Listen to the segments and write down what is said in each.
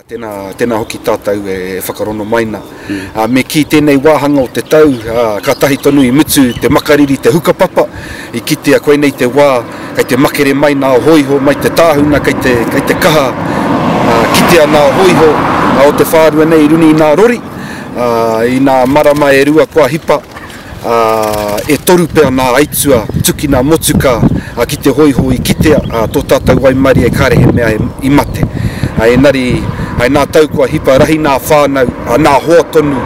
Tēnā, tēnā hoki tātou e whakarono mai nā. Me kī tēnei wāhanga o te tau, kātahi tonu i mutu te makariri, te hukapapa, i kitea koinei te wā kei te makere mai nā hōiho mai te tāhuna kei te, kei te kaha kitea nā hōiho o te whārua nei i runga i nā rori, i nā marama e rua kua hipa. ā, e toru pea nā aituā, tukina motuka ki te hoiho i kitea tō tātou waimarie kāre he mea i mate. Engari, hai nā tau kua hipa rahi nā whānau, nā hoa tonu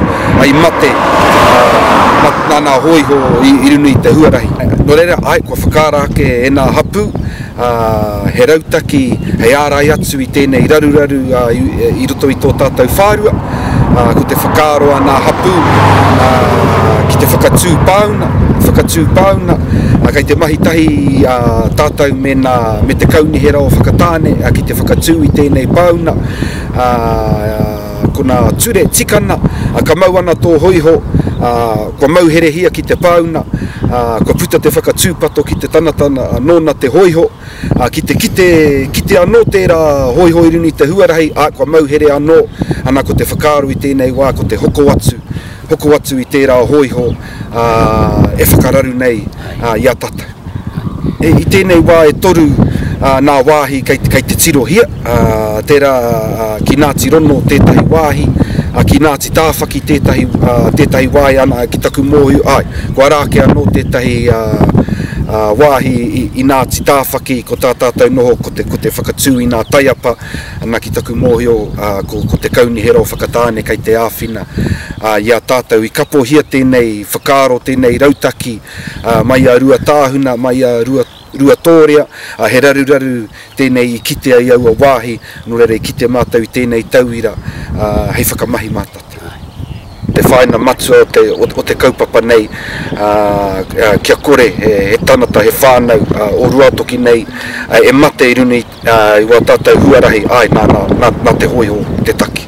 i mate, ā, nā nā hōiho i runga i te huarahi. Nō reira, āe, kua whakaara ake e nā hapū, ā, he rautaki hei ārai atu i tēnei raruraru i roto i tō tātou whārua, ā, ko te whakaaro a ngā hapū, ā, ki te whakatū pāuna, whakatū pāuna, ā, kei te mahi tahi ā tātou me ngā, me te Kaunihera o Whakatāne, ā, ki te whakatū i tēnei pāuna, ā, Kona ture tikana, ka mau ana tō hōiho, kua mauherehia ki te pāuna, kua puta te whakatūpato ki te tangata nōna te hōiho, ki te kite, kite anō tērā hōiho i runga i te huarahi, ā, kua mauhere anō, ana ko te whakaaro i tēnei wā ko te hoko atu, hoko atu i tērā hōiho e whakararu nei i a tātou. I tēnei wā e toru nā wāhi kei te tirohia, tērā ki Ngāti Rono tētahi wāhi, ki Ngāti Tāwhaki tētahi wāhi, ana ki taku mōhio, āe, kua rā ake anō tētahi wāhi i Ngāti Tāwhaki ko tā tātou noho ko te whakatū i ngā taiapa Ana ki taku mōhio ko te Kaunihera o Whakatāne kei te āwhina i a tātou i kapohia tēnei whakaaro, tēnei rautaki mai a Ruatāhuna, mai a Ruatōrea, he raruraru tēnei i kitea i aua wāhi, nō reira i kite mātou i tēnei tauira hei whakamahi mā tātou. Te whāinga matua o te kaupapa nei kia kore he tangata, he whānau o Ruatoki nei e mate i runga i. I wā tātou huarahi, āe, nā, nā, nā, nā te hōiho te taki.